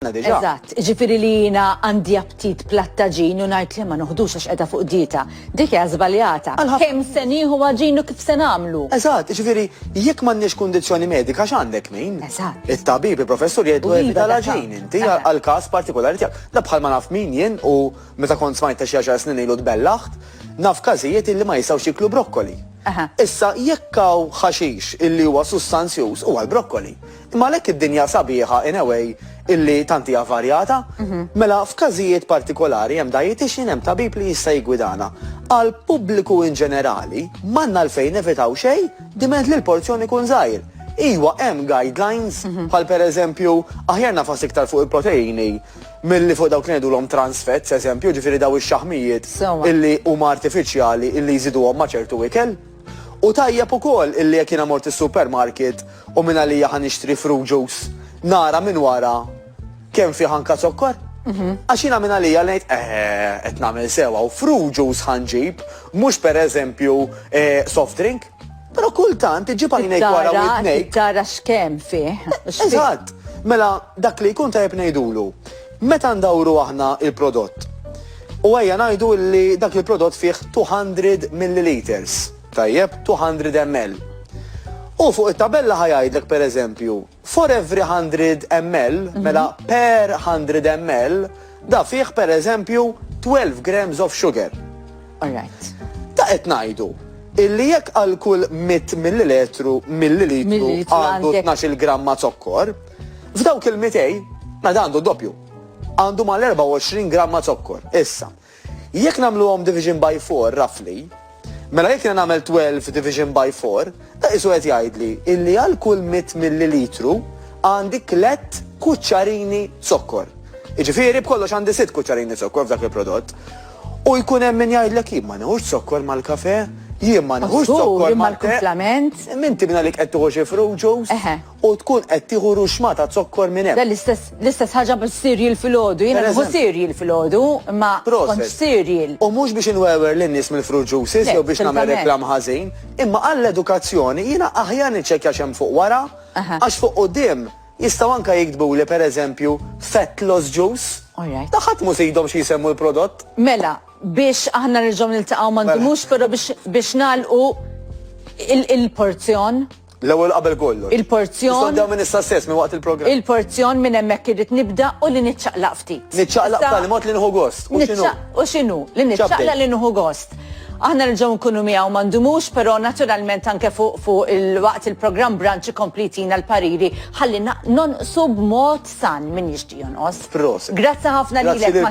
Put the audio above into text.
għandna diġà. Eżatt, jiġifieri li jiena għandi aptit platt ta' gin u ngħid le ma noħdux għax qiegħda fuq dieta, dik hija żbaljata. Għal ħafna. Kemm se nieħu għaġin u kif se nagħmlu. Eżatt, jiġifieri jekk m'għandniex kundizzjoni medika x'għandek min? Eżatt. It-tabib, il-professur jgħidlu evita l-għaġin inti għall-każ partikolari tiegħek. Da bħal ma naf min jien u meta kont smajtha xi għaxar snin ilu tbellaħt, naf każijiet illi ma jistgħux jieklu brokkoli. Issa jekk hawn ħaxix illi huwa sustanzjuż huwa l-brokkoli. Imma għalhekk id-dinja sabiħa in a way illi tant hija varjata, mela f'każijiet partikolari hemm dietitian, hemm tabib li jista' jiggwidana. Għal pubbliku in ġenerali m'għandna għalfejn nevitaw xejn diment li l-porzjon ikun żgħir. Iwa hemm guidelines bħal pereżempju aħjar nagħfas iktar fuq il-proteini milli fuq dawk li ngħidulhom trans fats eżempju, jiġifieri dawn ix-xaħmijiet illi huma artifiċjali illi jżiduhom ma' ċertu ikel. Hu tajjeb ukoll illi jekk jiena mort is-supermarket u mingħalija ħa nixtri fruit juice, nara minn wara kemm fih anka zokkor. Għax jiena mingħalija ngħid, eħe, qed nagħmel sew hawn, fruit juice ħa nġib, mhux pereżempju soft drink. Però kultant iġġib għajnejk wara widnejk. Tara x'kemm fih. Eżatt. Mela dak li jkun tajjeb ngħidulu. Meta ndawru aħna l-prodott u ejja ngħidu li dak il-prodott fih 200 milliliters, tajjeb, 200 ml. Hu fuq it-tabella ħa jgħidlek pereżempju, for every 100 ml, mela per 100 ml, da fih pereżempju 12 grams of sugar. All right. Da qed ngħidu illi jekk għal kull 100 millilitru millilitru għandu 12 gramma zokkor, F'dawk il-mitej, meta għandu d-doppju, għandu mal-24 gramma zokkor. Issa, jekk nagħmluhom division by 4 roughly, mela jekk jiena nagħmel 12 division by 4, da qisu qed jgħidli illi għal kull 100 millilitru għandi tliet kuċċarini zokkor. Iġifieri b'kollox għandi sitt kuċċarini zokkor f'dak il-prodott. U jkun hemm min jgħidlek jien ma nħux zokkor mal-kafe, jien ma nħux zokkor mal-kafe. Min tibna li qed tuħu xi fruit juice? u tkun qed tieħu ruxma ta' zokkor minn hemm. L-istess ħaġa bis-cereal filgħodu. Jiena nieħu cereal filgħodu, imma kontx cereal. U mhux biex inwewer lin-nies mill-fruit juices jew biex nagħmel reklam ħażin, imma għall-edukazzjoni jiena aħjar niċċekkja x'hemm fuq wara, għax fuq quddiem jistgħu anke jiktbuli pereżempju fat loss juice. Ta' ħadd mhu s'idhom xi jsemmu l-prodott. Mela, biex aħna nerġgħu niltaqgħu ma ndumux però biex nagħlqu il-porzjon. L-ewwel qabel kollox. Il-porzjon. Nistgħu nibdew minn issa stess, minn waqt il-programm. Il-porzjon minn hemmhekk irrid nibda u li niċċaqlaq ftit. Niċċaqlaq b'tali mod li nieħu gost. U x'inhu? U x'inhu? Li niċċaqlaq li nieħu gost. Aħna nerġgħu nkunu miegħu ma ndumux, però naturalment anke fuq fu il-waqt il-programm branċ ikompli jtina l-pariri ħalli nonqsu b'mod san minn jixtieq jonqos. Proset. Grazzi ħafna lilek.